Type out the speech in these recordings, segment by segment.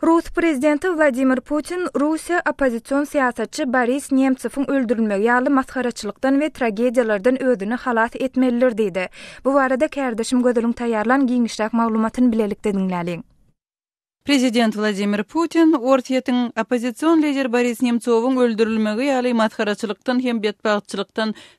Rus prezidenti Wladimir Putin Russiýa oppozision syýasatçy Boris Nemtsowyň öldürilmegi ýaly masgaraçylykdan we tragediýalardan özüni halas etmelidir diýdi. Bu barada kärdeşim Gözeliň taýýarlan giňişräk maglumatyny bilelikde diňläliň. Prezident Wladimir Putin Orsýetiň oppozision lideri Boris Nemtsowyň öldürilmegi ýaly masgaraçylykdan hem betbagtçylykdan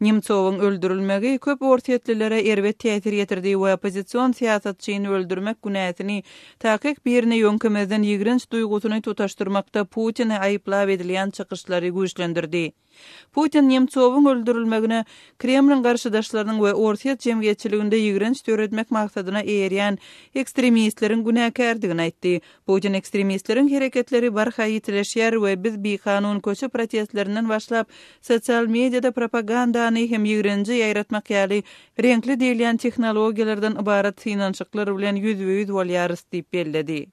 Nemtsowyň öldürilmegi köp orsýetlilere erbet täsir ýetirdi we oppozision syýasatçyny öldürmek günäsini takyk birine ýöňkemezden ýigrenç duýgusyny tutaşdyrmakda Putini aýyplap edilýän çykyşlary güýçlendirdi. Putin Nemtsowyň öldürilmegine Kremliň garşydaşlarynyň we orsýet jemgyýetçiliginde ýigrenç döretmek maksadyna eýerýän ekstremistleriň günäkärdigini aýtdy, Putin ekstremistleriň hereketleri barha ýitileşýär we biz bikanun köçe protestlerinden başlap, sosial mediada propagandany hem ýigrenji ýaýratmak ýaly reňkli diýilýän tehnologiýalardan ybarat synanyşyklar bilen ýüzbe-ýüz bolýarys diýip belledi.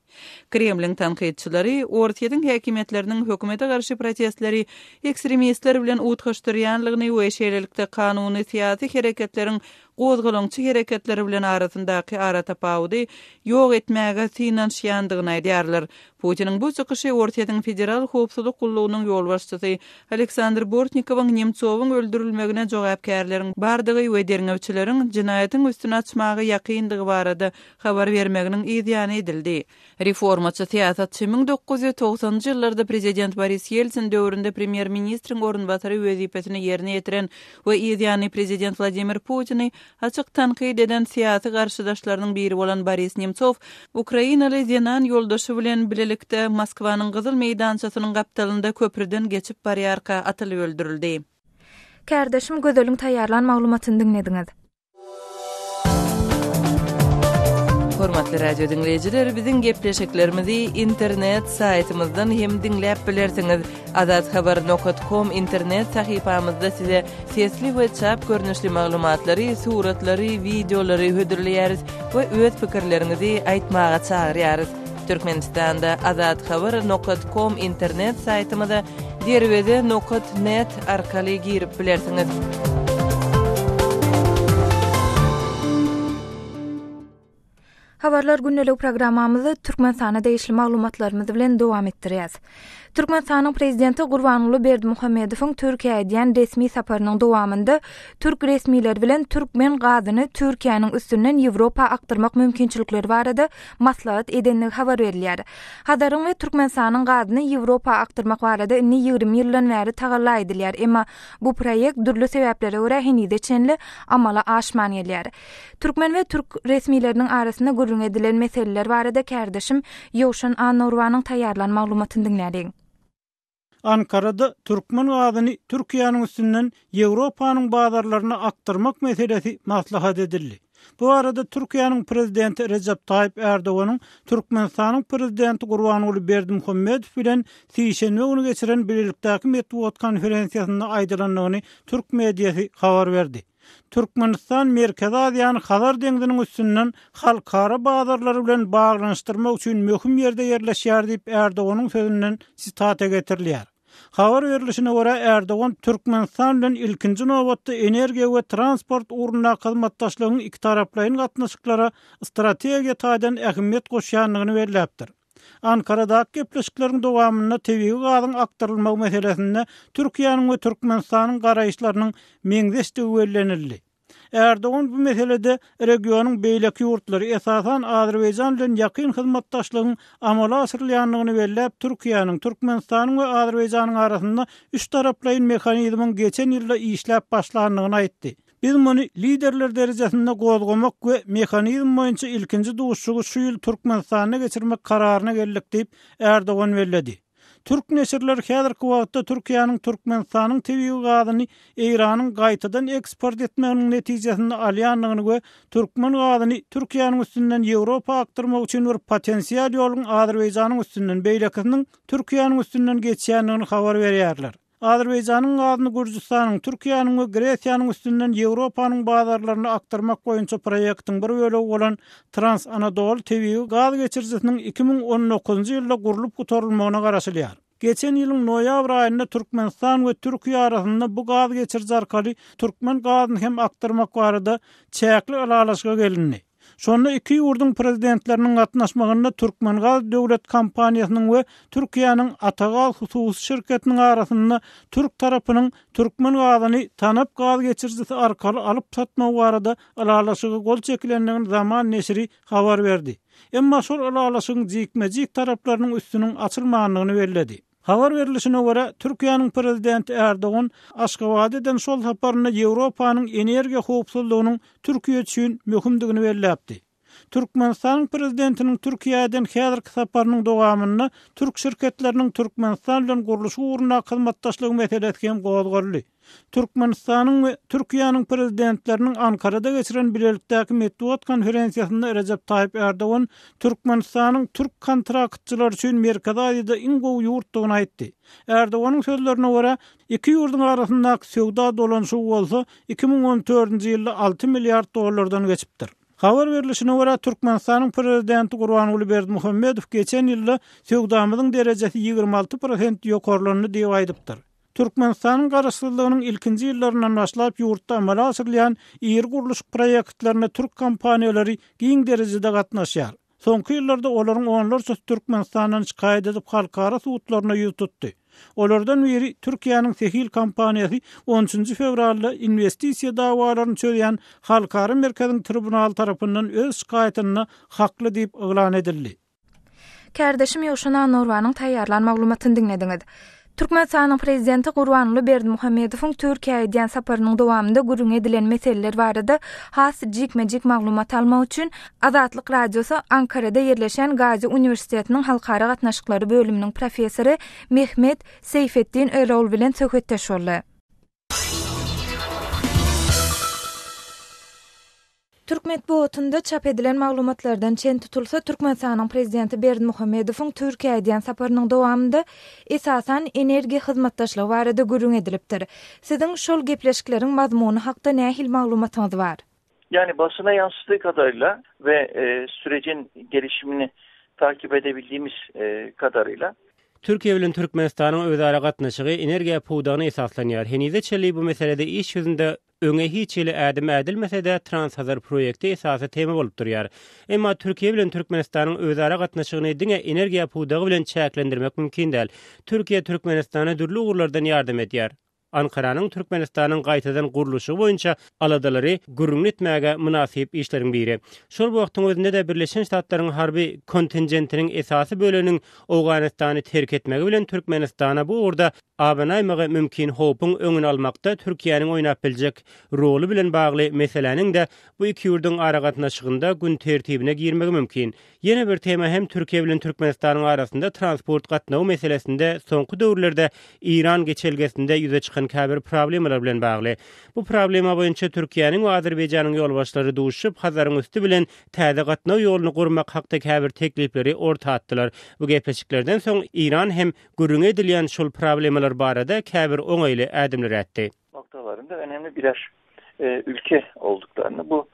Kremliň tankytçylary Orsýetiň häkimiýetleriniň hökümete garşy protestleri ekstremistler bilen utgaşdyrýanlygyny we şeýlelikde kanuny syýasy hereketleriň gozgalaňçy hereketleri bilen arasyndaky aratapawudy ýok etmäge synanyşýandygyny aýdýarlar. Putiniň bu çykyşy Orsýetiň Federal howpsuzlyk gullugynyň ýolbaşçysy Aleksandr Bortnikowyň Nemtsowyň öldürilmegine jogapkärleriň bardygy we derňewçileriň jenaýatyň üstüni açmaga ýakyndygy barada habar bermeginiň yzýany edildi. Reformaçy syýasatçy müň dokuz ýüz togsanynjy ýyllarda prezident Boris Ýeltsin döwründe premýer-ministriň orunbasary wezipesini ýerine ýetiren we yz ýany prezident Wladimir Putini açyk tankyt eden syýasy garşydaşlarynyň biri bolan Boris Nemtsow ukrainaly zenan ýoldaşy bilen bilelikde Moskwanyň Gyzyl meýdançasynyň gapdalynda köprüden geçip barýarka atylyp öldürildi. Kärdeşim Gözeliň taýýarlan maglumatyny diňlediňiz. Hormatly radio diňleýjiler, biziň gepleşiklerimizi internet saýtymyzdan hem diňläp bilersiňiz. Azathaber.com internet sahypamyzda size sesli we çap görnüşli maglumatlary, suratlary, wideolary hödürleýäris we öz pikirleriňizi aýtmaga çagyrýarys. Türkmenistanda Azat Haber nokat kom internet saýtymyza derweze nokat net arkaly girip bilersiňiz. Habarlar gündelik programmamyzy Türkmenistana degişli maglumatlarymyz bilen dowam etdirýäs. Türkmenistanyň Prezidenti Gurbanguly Berdimuhamedowyň Türkiýä edýän resmi saparynyň dowamynda türk resmileri bilen türkmen gazyny Türkiýäniň üstünden Ýewropa akdyrmak mümkinçilikleri barada maslahat edendigi habar berilýär. Hazaryň we Türkmenistanyň gazyny Ýewropa akdyrmak barada indi ýigrimi ýyldan bäri tagalla edilýär, emma bu proýekt dürli sebäplere görä henize çenli amala aşman gelýär. Türkmen we türk resmileriniň arasynda gürrüňi edilen meseleler barada kärdeşim Ýowşan Annaurwanyň taýýarlan maglumatyny diňläliň. Ankarada türkmen gazyny Türkiýäniň üstünden Ýewropanyň bazarlaryna akdyrmak meselesi maslahat edildi. Bu barada Türkiýäniň Prezidenti Rejep Taýyp Ärdoganyň Türkmenistanyň Prezidenti Gurbanguly Berdimuhamedow bilen sişenbe güni geçiren bilelikdäki metbugat konferensiýasynda aýdylandygyny türk mediasy habar berdi. Türkmenistan Merkezi Aziýany Hazar deňziniň üstünden halkara bazarlary bilen baglanyşdyrmak üçin möhüm ýerde ýerleşýär diýip, Erdoganyň sözünden sitata getirilýär. Habar berlişine görä, Erdogan Türkmenistan bilen ilkinji nobatda energiýa we transport ugrundaky hyzmatdaşlygyň ikitaraplaýyn gatnaşyklara strategiýa taýdan ähmiýet goşýandygyny belläpdir. Ankaradaky gepleşikleriň dowamynda tebigy gazyň akdyrylmagy meselesinde Türkiýäniň we Türkmenistanyň garaýyşlarynyň meňzeşdigi bellenildi. Erdogan bu meselede regionyň beýleki ýurtlary, esasan, Azerbaýjan bilen ýakyn hyzmatdaşlygyň amala aşyrylýandygyny belläp, Türkiýäniň, Türkmenistanyň we Azerbaýjanyň arasynda üçtaraplaýyn mehanizmiň geçen ýylda işläp başlandygyny aýtdy. Biz muny Liderler derejesinde gozgamak we mehanizm boýunça ilkinji duşuşygy şu ýyl Türkmenistanda geçirmek kararyna geldik diýip, Erdogan belledi. Türk neşirleri häzirki wagtda Türkiýäniň Türkmenistanyň tebigy gazyny Eýranyň gaýtadan eksport etmeginiň netijesinde alýandygyny we türkmen gazyny Türkiýäniň üstünden Ýewropa akdyrmak üçin bir potensial ýoluň Azerbaýjanyň üstünden beýlekisiniň Türkiýäniň üstünden geçýändigini habar berýärler. Azerbaýjanyň gazyny Gürjüstanyň, Türkiýäniň we Gresiýanyň üstünden Ýewropanyň bazarlaryna akdyrmak boýunça proýektiň bir bölegi bolan Trans-Anadolu tebigy gaz geçirijisiniň iki müň on dokuzynjy ýylda gurlup gutarylmagyna garaşylýar. Geçen ýylyň noýabr aýynda Türkmenistan we Türkiýe arasynda bu gaz geçiriji arkaly türkmen gazyny hem akdyrmak barada çäkli ylalaşyga gelindi. Şonda iki ýurduň Prezidentleriniň gatnaşmagynda Türkmengaz döwlet kompaniýasynyň we Türkiýäniň Atagaz hususy şirketiniň arasynda türk tarapynyň türkmen gazyny Tanap gaz geçirijisi arkaly alyp satmagy barada ylalaşyga gol çekilendigini Zaman neşiri habar berdi. Emma şol ylalaşygyň jikme-jik taraplarynyň üstüniň açylmandygyny belledi. Habar berlişine görä, Türkiýäniň Prezidenti Erdogan Aşgabat eden şol saparynda Ýewropanyň energiýa howpsuzlygynyň Türkiýe üçin möhümdigini belläpdi. Türkmenistanyň Prezidentiniň Türkiýä eden häzirki saparynyň dowamynda türk şirketleriniň Türkmenistan bilen gurluşyk ugrundaky hyzmatdaşlygy meselesi hem gozgaldy. Türkmenistanyň we Türkiýäniň Prezidentleriniň Ankarada geçiren bilelikdäki metbugat konferensiýasynda Rejep Taýyp Ärdogan Türkmenistanyň türk kontraktçylary üçin Merkezi Aziýada iň gowy ýurtdugyny aýtdy. Ärdoganyň sözlerine görä, iki ýurduň arasyndaky söwda dolanyşygy bolsa iki müň on dördünji ýylda alty milliard dollardan geçipdir. Habar berlişine görä, Türkmenistanyň Prezidenti Gurbanguly Berdimuhamedow geçen ýylda söwdamyzyň derejesi ýigrimi alty prosent ýokarlandy diýip aýdypdyr. Türkmenistanyň Garaşsyzlygynyň ilkinji ýyllaryndan başlap ýurtda amala aşyrylýan iri gurluşyk proýektlerine türk kompaniýalary giň derejede gatnaşýar. Soňky ýyllarda olaryň onlarçasy Türkmenistandan şikaýat edip halkara sudlaryna ýüz tutdy. Olardan biri Türkiýäniň Sehil kompaniýasy on üçünji fewralda inwestisiýa dawalaryny çözýän halkara merkeziň tribunaly tarapyndan öz şikaýatynda hakly diýip yglan edildi. Kärdeşim Ýowşan Annorbanyň taýýarlan maglumatyny diňlediňiz. Türkmenistanyň Prezidenti Gurbanguly Berdimuhamedowyň Türkiýä edýän saparynyň dowamynda gürrüňi edilen meseleler barada has jikme-jik maglumat almak üçin Azatlyk Radiosy Ankarada ýerleşen Gazi uniwersitetiniň halkara gatnaşyklary bölüminiň professory Mehmet Seýfetdin Örowl bilen söhbetdeş boldy. Türk metbugatynda çap edilen maglumatlardan çen tutulsa, Türkmenistanyň prezidenti Berdimuhamedowyň Türkiýä edýän saparynyň dowamynda esasan energiýa hyzmatdaşlygy barada gürrüň edilipdir. Siziň şol gepleşikleriň mazmuny hakda nähili maglumatyňyz bar? Ýagny başyna ýaşyşdygy kadarýla we sürecin gelişimini takyp edebildimiz kadarýla. Türkiýe bilen Türkmenistanyň özara gatnaşygy energiýa pudagyna esaslanýar. Henize çenli bu meselede iş ýüzünde öňe hiç hili ädim ädilmese-de, Transhazar proýekti esasy tema bolup durýar. Emma Türkiýe bilen Türkmenistanyň özara gatnaşygyny diňe energiýa pudagy bilen çäklendirmek mümkin däl. Türkiýe Türkmenistana dürli ugurlardan ýardam edýär. Ankaranyň Türkmenistanyň gaýtadan gurluşygy boýunça aladalary gürrüňini etmäge mynasyp işleriň biri. Şol wagtyň özünde-de Birleşen Ştatlaryň harby kontingentiniň esasy böleginiň Owganystany terk etmegi bilen Türkmenistana bu ugurda abanaýmagy mümkin howpuň öňüni almakda Türkiýäniň oýnap biljek roly bilen bagly meseläniň-de bu iki ýurduň aragatnaşygynda gün tertibine girmegi mümkin Ýene bir tema hem Türkiýe bilen Türkmenistanyň arasynda transport gatnawy meselesinde soňky döwürlerde Eýran geçelgesinde ýüze çykan käbir problemalar bilen bagly. Bu problema boýunça Türkiýäniň we Azerbaýjanyň ýolbaşçylary duşup, Hazaryň üsti bilen täze gatnaw ýoluny gurmak hakda käbir teklipleri orta atdylar. Bu gepleşiklerden soň Eýran hem gürrüňi edilýän şol problemalar barada käbir oňaýly ädimler ätdi. noktalarynda önemli birer ülke olduklarynny bu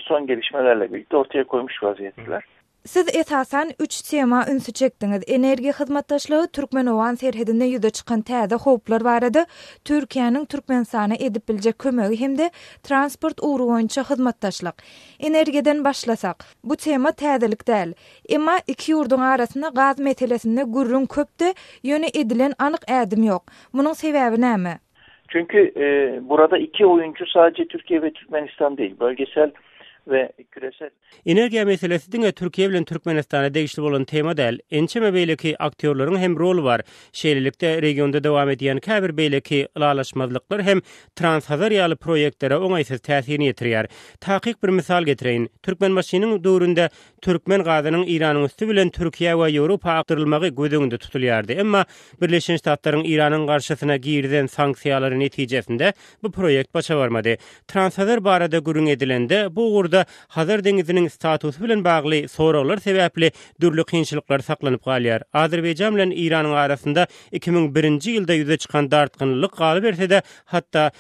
son gelişmelerle birlikde ortaya koymuş vaziyetdeler. Siz esasan üç tema ünsi çekdiňiz, energiýa hyzmatdaşlygy, türkmen-owgan serhedinde ýüze çykan täze howplar barada, Türkiýäniň Türkmenistana edip biljek kömegi hem-de transport ugry boýunça hyzmatdaşlyk. Energiýadan başlasak. Bu tema täzelik däl. Emma iki ýurduň arasynda gaz meselesinde gürrüň köpdi, ýöne edilen anyk ädim ýok. Munuň sebäbi näme? Çünki burada iki oýunçy sadece Türkiye ve Türkmenistan değil, bölgesel ve küresel. Energiýa meselesi diňe Türkiýe bilen Türkmenistana degişli bolan tema däl. Ençeme beýleki aktýorlaryň hem roly bar. Şeýlelikde, regionda dowam edýän käbir beýleki ylalaşmazlyklar hem Transhazar ýaly proýektlere oňaýsyz täsirini ýetirýär. Takyk bir mysal getireýin. Türkmenbaşynyň döwründe Türkmen gazynyň Iranyň üsti bilen Türkiýä we Ýewropa akdyrylmagy göz öňünde tutulýardy, emma Birleşen Ştatlaryň Iranyň garşysyna girizen sanksiýalary netijesinde bu proýekt başa barmady. Transhazar barada gürrüň edilende, bu ugurda Hazar deňiziniň statusy bilen bagly soraglar sebäpli dürli kynçylyklar saklanyp galýar. Azerbaýjan bilen Iranyň arasynda iki müň birinji ýylda ýüze çykan dartgynlylyk galyberse-de, hatda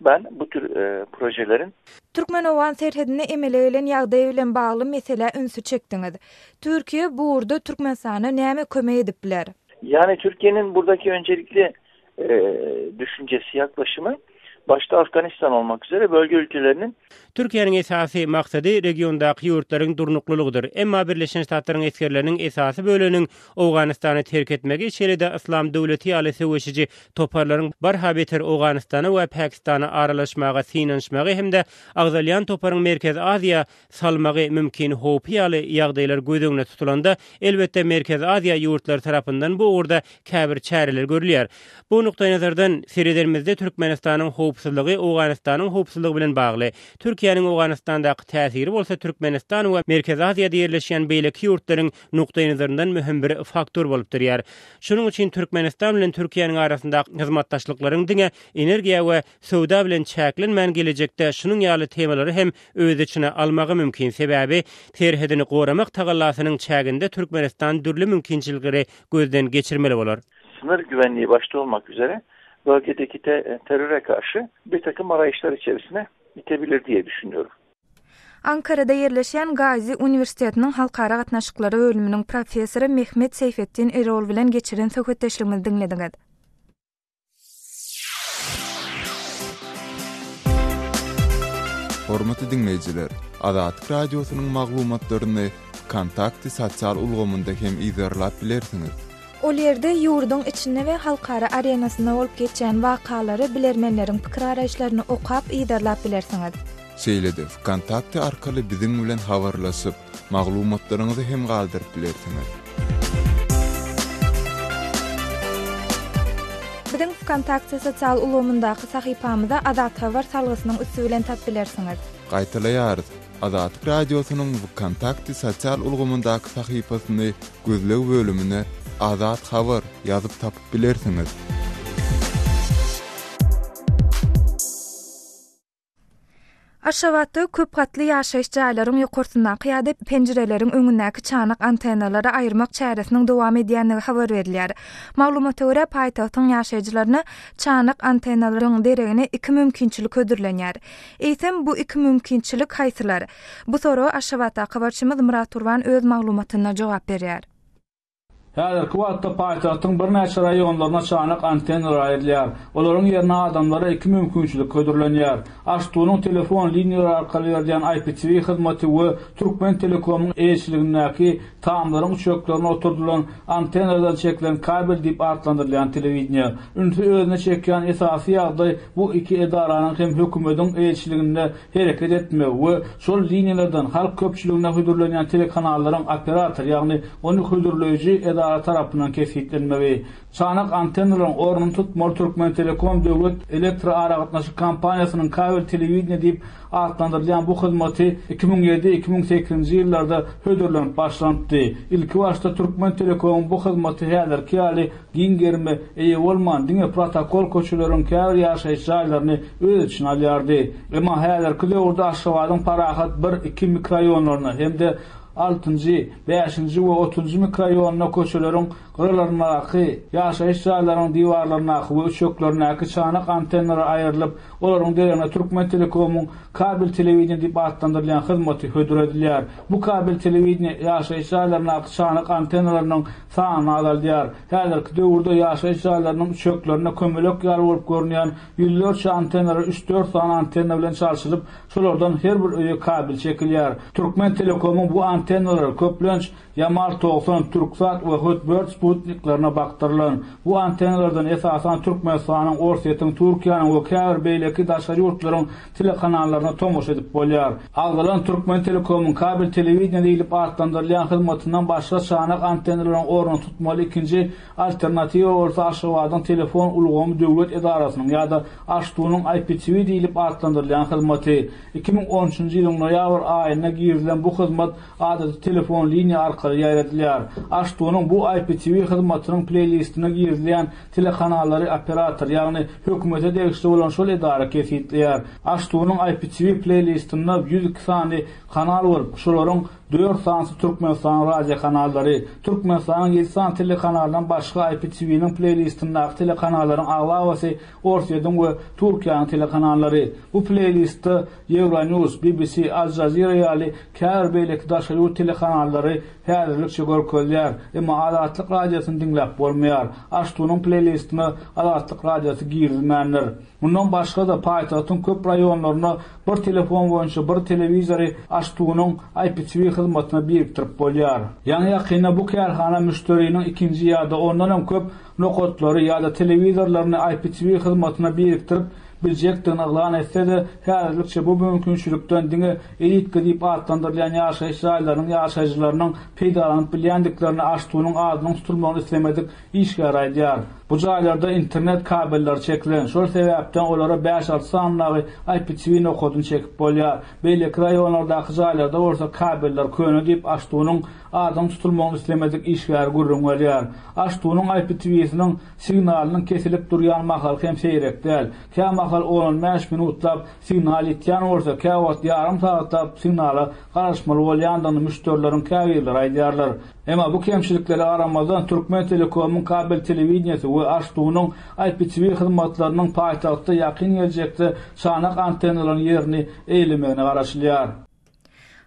Ban bu tür projeleriň. Türkmen-owgan serhedinde emele gelen ýagdaý bilen bagly meselä ünsi çekdiňiz. Türkiýe bu ugurda Türkmenistana näme kömek edip biler? Ýagny Türkiýeniň burdaki önjelikli düşünjesi, ýaklaşymy başda Afganistan bolmak üzere bölge ülkeleriniň. Türkiýäniň esasy maksady regiondaky ýurtlaryň durnuklylygydyr. Emma Birleşen Ştatlaryň esgerleriniň esasy böleginiň Owganystany terk etmegi şeýle-de Yslam döwleti ýaly söweşiji toparlaryň barha beter Owganystana we Pakistana aralaşmaga synanyşmagy hem-de agzalýan toparyň Merkezi Aziýa salmagy mümkin howpy ýaly ýagdaýlar göz öňüne tutulanda, elbetde Merkezi Aziýa ýurtlary tarapyndan bu ugurda käbir çäreler görülýär. Bu nukdaýnazardan seredenimizde Türkmenistanyň howpsuzlygy Owganystanyň howpsuzlygy bilen bagly. Türkiýäniň Owganystandaky täsiri bolsa Türkmenistan we Merkezi Aziýada ýerleşýän beýleki ýurtlaryň nukdaýnazaryndan möhüm bir faktor bolup durýar. Şonuň üçin Türkmenistan bilen Türkiýäniň arasyndaky hyzmatdaşlyklaryň diňe energiýa we söwda bilen çäklenmän gelejekde şunuň ýaly temalary hem öz içine almagy mümkin, sebäbi serhedini goramak tagallasynyň çäginde Türkmenistan dürli mümkinçilikleri gözden geçirmeli bolar. Symyr güwenligi başda bolmak üzere bölgedeki terrore garşy birtakym arayşlar içerisine itebilir diýe düşünýoris. Ankarada ýerleşýän Gazi uniwersitetiniň halkara gatnaşyklary bölüminiň professory Mehmet Seýfetdin Erol bilen geçiren söhbetdeşligimizi diňlediňiz. Hormatly diňleýjiler, Azatlyk Radiosynyň maglumatlaryny Wkontakte sosial ulgamynda hem yzarlap bilersiňiz. Ol ýerde ýurduň içinde we halkara arenasynda bolup geçýän wakalary, bilermenleriň pikir araýyşlaryny okap, yzarlap bilersiňiz. Şeýle-de Vkontakte arkaly biziň bilen habarlaşyp, maglumatlaryňyzy hem galdyryp bilersiňiz. Biziň Vkontakte sosial ulgamyndaky sahypamyza Azat Habar salgysynyň üsti bilen tap bilersiňiz. Gaýtalaýarys, Azatlyk Radiosynyň Vkontakte sosial ulgamyndaky sahypasyny gözleg bölümine Azat Habar ýazyp tapyp bilersiňiz. Aşgabatda köp gatly ýaşaýyş jaýlaryň ýokarsyndaky ýa-da penjireleriň öňündäki çanak antennalary aýyrmak çäresiniň dowam edýändigi habar berilýär. Maglumata görä, paýtagtyň ýaşaýjylaryna çanak antennalaryň deregine iki mümkinçilik hödürlenýär. Eýsem, bu iki mümkinçilik haýsylar? Bu soraga Aşgabatdaky habarçymyz Myrat Gurban öz maglumatynda jogap berýär. Häzirki wagtda paýtagtyň birnäçe raýonlaryna çanak antenna raýylýar. Olaryň ýerine adamlara iki mümkinçilik hödürlenýär. HTU-nyň telefon liniýalary arkaly berilýän IPTV hyzmaty we Türkmentelekomyň eýeçiligindäki tamlaryň üçeklerine oturdylan antennalardan çekilen kabel diýip atlandyrylýan telewideniýe. Ünsi özüne çekýän esasy ýagdaý bu iki edaranyň hem hökümediň eýeçiliginde hereket etmegi we şol liniýalardan halk köpçüligine hödürlenýän telekanallaryň operator, ýagny ony hödürleýji edara tarapyndan kesgitlenmegi, çanak antennalaryň ornuny tutmaly Türkmentelekom döwlet elektroaragatnaşyk kompaniýasynyň kabel telewideniýe diýip atlandyrylýan bu hyzmaty iki müň ýedi, iki müň sekizinji ýyllarda hödürlenip başlanypdy. Ilkibaşda Türkmentelekomyň bu hyzmaty häzirki ýaly giň gerime eýe bolman, diňe protokol köçeleriň käbir ýaşaýyş jaýlaryny öz içine alýardy. Emma häzirki döwürde Aşgabadyň Parahat bir, iki mikroýonlaryna hem-de altynjy, bäşinji we otuzynjy mikroýonuna köçeleriň gyralaryndaky, ýaşaýyş jaýlaryň diwarlaryndaky we üçeklerindäki çanak antennalary aýrylyp, olaryň deregine Türkmentelekomyň kabel telewideniýe diýip atlandyrylýan hyzmaty hödür edilýär. Bu kabel telewideniýe ýaşaýyş jaýlaryndaky çanak antennalarynyň sany azaldýar. Häzirki döwürde ýaşaýyş jaýlarynyň üçeklerinde kömelek ýaly bolup görünýän ýüzlerçe antennara üç-dört sany antenna bilen çalşylyp, şolardan her bir öýe kabel çekilýär. Türkmentelekomyň bu antennalary, köplenç, Yamal togsan, Türksat we Hotbird sputniklerine bakdyrylan. Bu antennalardan, esasan, Türkmenistanyň, Orsýetiň, Türkiýäniň we käbir beýleki daşary ýurtlaryň telekanallaryna tomaşa edip bolýar. Agzalan Türkmentelekomyň kabel telewideniýe diýlip atlandyrylýan hyzmatyndan başga çanak antennalaryň ornuny tutmaly ikinji alternatiwa bolsa Aşgabadyň telefon ulgamy döwlet edarasynyň ýa-da AŞTU-nyň IPTV diýlip atlandyrylýan hyzmaty. Iki müň on üçünji ýylyň noýabr aýynda girizilen bu hyzmat adaty telefon liniýa arkaly ýaýradylýar. AŞTU-nyň bu IPTV hyzmatynyň pleýlistine girizilýän Telekanallary operator, ýagny hökümete degişli bolan şol edara kesgitleýär. Aştunyň IPTV pleýlistinde ýüz iki sany kanal bolup, şolaryň dört sanysy Türkmenistanyň radiokanallary. Türkmenistanyň ýedi sany telekanalyndan başga IPTV-niň pleýlistindäki telekanallaryň aglabasy Orsýetiň we Türkiýäniň telekanallary. Bu pleýlistde Euronews, BBC, Al Jazeera ýaly käbir beýleki daşary ýurt telekanallary Häzirlikçe görkezýär, emma Azatlyk Radiosyny diňläp bolmaýar. Aştunyň pleýlistine Azatlyk Radiosy girizilmändir. Mundan başga-da, paýtagtyň köp raýonlarynda bir telefon boýunça bir telewizory Aştunyň IPTV hyzmatyna birikdirip bolýar. Ýaňy-ýakynda bu kärhana müşderiniň ikinji ýa-da ondan hem köp nokatlary ýa-da telewizorlaryny IPTV hyzmatyna birikdirip biljekdigini yglan etse-de, häzirlikçe bu mümkinçilikden diňe EITKA diýip atlandyrylýan ýaşaýyş jaýlarynyň ýaşaýjylarynyň peýdalanyp bilýändiklerini AŞTU-nyň adynyň tutulmagyny islemedik işgär aýdýar. Bu jaýlarda internet kabelleri çekilen, şol sebäpden olara bäş-alty sanyndaky IPTV nokadyny çekip bolýar. Beýleki raýonlardaky jaýlarda bolsa kabeller köne diýip, AŞTU-nyň Adyň tutulmagyny islemedik işgär gürrüň berýär. Aştunyň IPTV-siniň signalynyň kesilip durýan mahaly hem seýrek däl. Kämahal on-on bäş minutlap signal ýitýän bolsa, käwagt ýarym sagatlap signala garaşmaly bolýandygyny müşderileriň käbirleri aýdýarlar. Emma bu kemçiliklere garamazdan, Türkmentelekomyň kabel telewideniýesi we Aştunyň IPTV hyzmatlarynyň paýtagtda ýakyn geljekde çanak antennalaryň ýerini eýlemegine garaşylýar.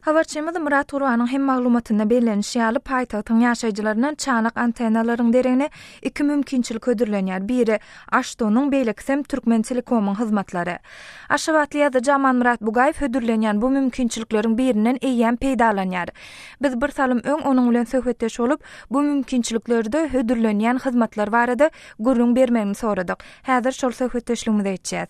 Habarçymyz Myrat Gurbanyň hem maglumatynda bellenişi ýaly, paýtagtyň ýaşaýjylaryndan çanak antennalaryň deregine iki mümkinçilik hödürlenýär, biri, Aşdonyň, beýlekisem, Türkmentelekomyň hyzmatlary. Aşgabatly ýazyjy Amanmyrat Bugaýew hödürlenýän bu mümkinçilikleriň birinden eýýäm peýdalanýar. Biz bir salym öň onuň bilen söhbetdeş bolup, bu mümkinçiliklerde hödürlenýän hyzmatlar barada gürrüň bermegini soradyk. Häzir şol söhbetdeşligimizi eçýäs.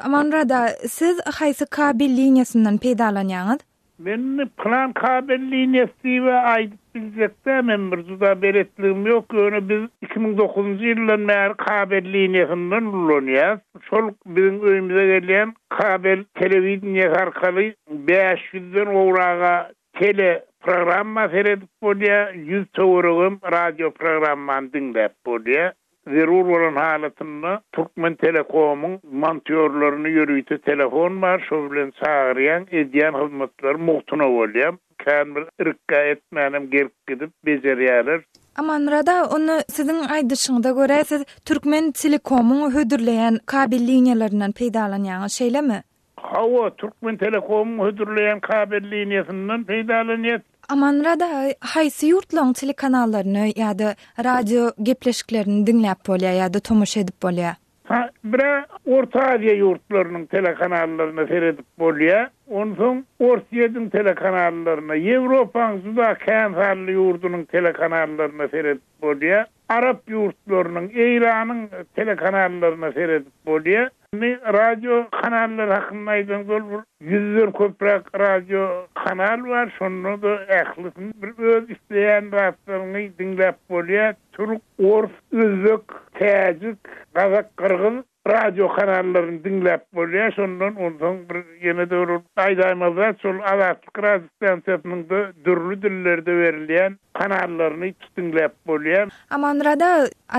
Amanrada, siz haýsy kabel liniýasyndan peýdalanýaňyz? Men plan kabel liniýasy diýibä aýdyp biljek däl, men bir juda beletligim ýok, ýöne biz iki müň dokuzynjy ýyldan bäri kabel liniýasyndan ulanýas. Şol biziň öýümize gelýän kabel telewideniýesi arkaly bäş ýüzden gowraga Teleprogramma seredip bolýar, ýüz töweregem radioprogrammany diňläp bolýar. Zerur bolan halatynda Türkmentelekomyň montýorlaryny ýörite telefon bar, şo bilen çagyrýaň, edýän hyzmatlary mugtuna bolýar. Kän bir irka etmänem gelip gidip bejerýärler. Amanmyrat aga, onda siziň aýdyşyňyza görä siz Türkmentelekomyň hödürleýän kabel liniýalaryndan peýdalanýaňyz, şeýlemi? Hawa, Türkmentelekomyň hödürleýän kabel liniýasyndan peýdalanýas. Amanmyrat aga haýsy ýurtlaryň telekanallaryny ýa-da radio gepleşiklerini diňläp bolýar ýa-da tomaşa edip bolýar? Ha, bir-ä Orta Aziýa ýurtlarynyň telekanallaryna seredip bolýar. Onsoň Orsýetiň telekanallaryna, Ýewropanyň juda kän sanly ýurdunyň telekanallaryna seredip bolýar. Arap ýurtlarynyň, Eýranyň telekanallaryna seredip bolýar. Indi radio kanallary hakynda aýdaňda ol bir ýüzden köpräk radio kanal bar. Şonda-da ählisini bir öz isleýän zatlaryňy diňläp bolýar. Türk, ors, özbek, täjik, gazak, gyrgyz. Radio kanallaryny diňläp bolýar şondan onsoň bir ýene-de bir gaýdaýmaz zat şol Azatlyk radio stansiýasynyň da dürli dillerde berilýän kanallaryny hiç diňläp bolýar. Amanrada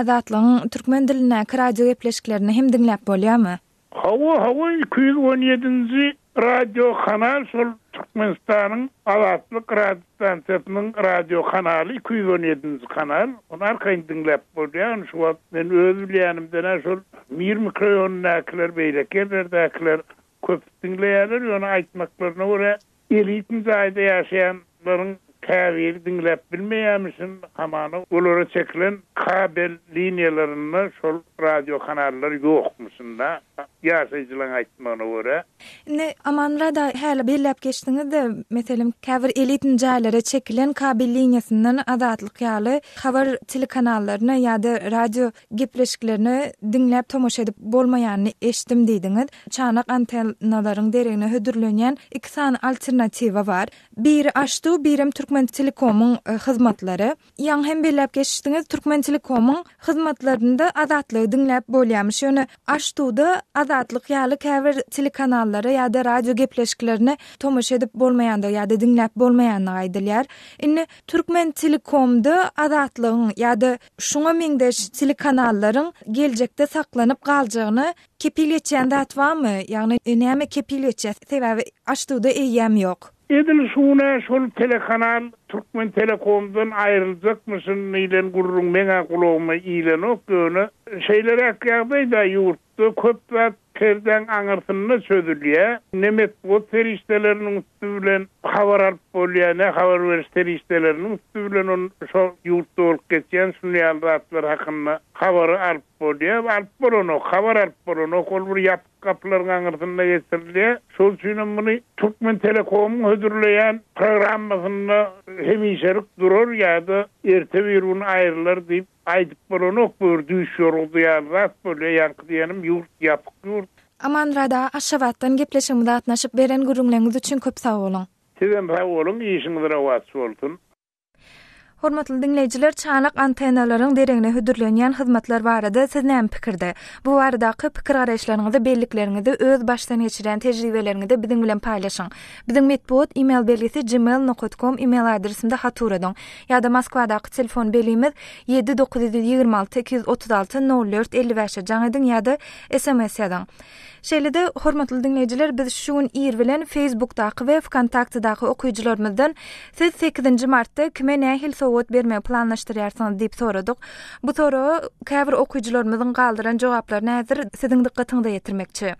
Azatlygyň türkmen dilindäki radio gepleşiklerini hem diňläp bolýarmy? Hawa hawa iki ýüz on ýedinji Radiokanal şol Türkmenistanyň Azatlyk radiostansiýasynyň radiokanaly, iki ýüz on ýedinji kanal. Ony arkaýyn diňläp bolýar. Ony şu wagt men öz bilýänimden-ä şol Mir mikroýonundakylar, beýleki ýerlerdäkiler köp diňleýärler. Ýöne aýtmaklaryna görä, elitni jaýda ýaşaýan Olaryň käbiri diňläp bilmeýärmişin, hamana olara çekilen kabel liniýalarynda şol radiokanallar ýokmuşyn-da, ýaşaýjylaryň aýtmagyna görä. Indi, Amanmyrad-a, häli belläp geçdiňiz-de, meselem, käbir elitny jaýlara çekilen kabel liniýasyndan Azatlyk ýaly habar telekanallaryna ýa-da radio gepleşiklerine diňläp, tomaşa edip bolmaýanyny eşitdim diýdiňiz. Çanak antennalaryň deregine hödürlenýän iki sany alternatiwa bar. Biri Aştu, birem Türkmentelekomyň hyzmatlary. Ýaňy hem belläp geçdiňiz, Türkmentelekomyň hyzmatlarynda Azatlygy diňläp bolýarmyş. Ýöne Aştuda Azatlyk ýaly käbir telekanallara ýa-da radio gepleşiklerine tomaşa edip bolmaýandygy ýa-da diňläp bolmaýandygy aýdylýar. Indi Türkmentelekomda Azatlygyň ýa-da şuňa meňzeş telekanallaryň geljekde saklanyp galjagyna Kepil geçýän zat barmy? Ýagny näme kepil geçýär? Sebäbi açduda eýýäm ýok. Edil şu gün-ä şol telekanal Türkmentelekomdan aýryljakmyşyn diýlen gürrüň meň-ä gulagyma ilenok, ýöne şeýleräk ýagdaýda ýurtda köp zat perdäň aňyrsynda çözülýär. Ne metbugat serişdeleriniň üsti bilen habar alyp bolýar, ne habar beriş serişdeleriniň üsti bilen şo ýurtda bolup geçýän şunday ýaly zatlar hakynda habary alyp Bolýar, alyp bolanok, habar alyp bolanok, ol bir ýapyk gapylaryň aňyrsynda geçirilýär. Şol üçin hem muny Türkmentelekomyň hödürleýän programmasynda hemişelik durar ýa-da erte bir gün aýrylar diýip aýdyp bolanok, bu bir düýş ýorgusy ýaly zat bolýar, ýaňky diýenim ýurt ýapyk ýurt. Amanrada Aşgabatdan gepleşigimize gatnaşyp beren gürrüňleriňiz üçin köp sag boluň. Sizem sag boluň, işiňiz rowaç bolsun. Hormatly diňleýjiler, çanak antennalaryň deregine hödürlenýän hyzmatlar barada siz näme pikirde? Bu baradaky pikir-garaýyşlaryňyzy, bellikleriňizi, öz başdan geçirýän tejribeleriňizi biziň bilen paýlaşyň. Biziň metbugat e-mail belgisi gmail nokat kom e-mail adresinde hat uradyň. Ýa-da Moskwadaky telefon belimiz ýedi dokuz ýüz ýigrimi alty iki ýüz otuz alty nol dört elli bäşe jaň ediň ýa-da sms ýazyň. Şeýle-de, hormatly diňleýjiler, biz şu gün ir bilen Facebookdaky we Wkontaktedaky okyjylarymyzdan Siz sekizinji martda kime nähili sowgat bermegi planlaşdyrýarsyňyz? diýip soradyk. Bu soraga käbir okyjylarymyzyň galdyran jogaplaryny häzir siziň dykgatyňyza ýetirmekçi.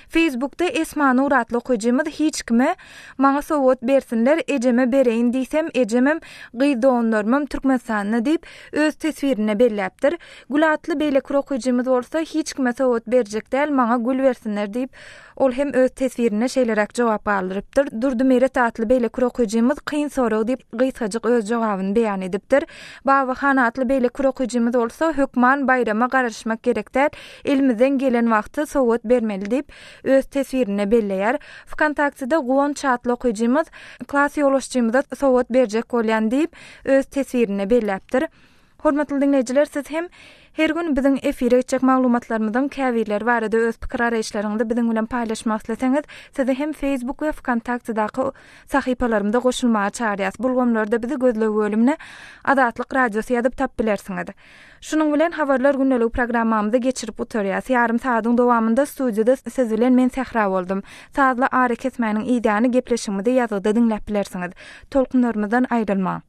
Facebookda Esma Nur atly okyjymyz hiç kime Maňa sowgat bersinler, ejeme bereýin diýsem, ejemem, gyz doganlarymam Türkmenistanda diýip, öz teswirinde belläpdir. Gül atly beýleki bir okyjymyz bolsa, Hiç kime sowgat berjek däl, maňa gül bersinler diýip, ol hem öz teswirinde şeýleräk jogap galdyrypdyr. Durdymeret atly beýleki bir okyjymyz Kyn sorag diýip, gysgajyk öz jogabyny beýan edipdir. Babahan atly beýleki bir okyjymyz bolsa, Hökman baýrama garaşmak gerek däl, elimizden gelen wagty sowgat bermeli diýip, öz teswirinde belleýär. Wkontaktede Guwanç atly okyjymyz, Klas ýolbaşçymyza sowgat berjek bolýan diýip, öz teswirinde belläpdir. Hormatly diňleýjiler siz hem Her gün biziň efire geçjek maglumatlarymyzyň käbirleri barada öz pikir araýyşlaryňyzy biziň bilen paýlaşmak isleseňiz sizi hem Facebook we Vkontaktedaky sahypalarymyza goşulmaga çagyrýas bu ulgamlarda bizi gözleg bölümine Azatlyk radiosy ýazyp tap bilersiňiz. Şunuň bilen habarlar gündeliği programmamyzy geçirip gutarýas ýarym saadyň dowamynda studiýada siz bilen men Sähra boldum sazly ara kesmäniň idýany gepleşigimizi ýazgyda diňläp bilersiňiz tolkunlarymyzdan aýrylmaň.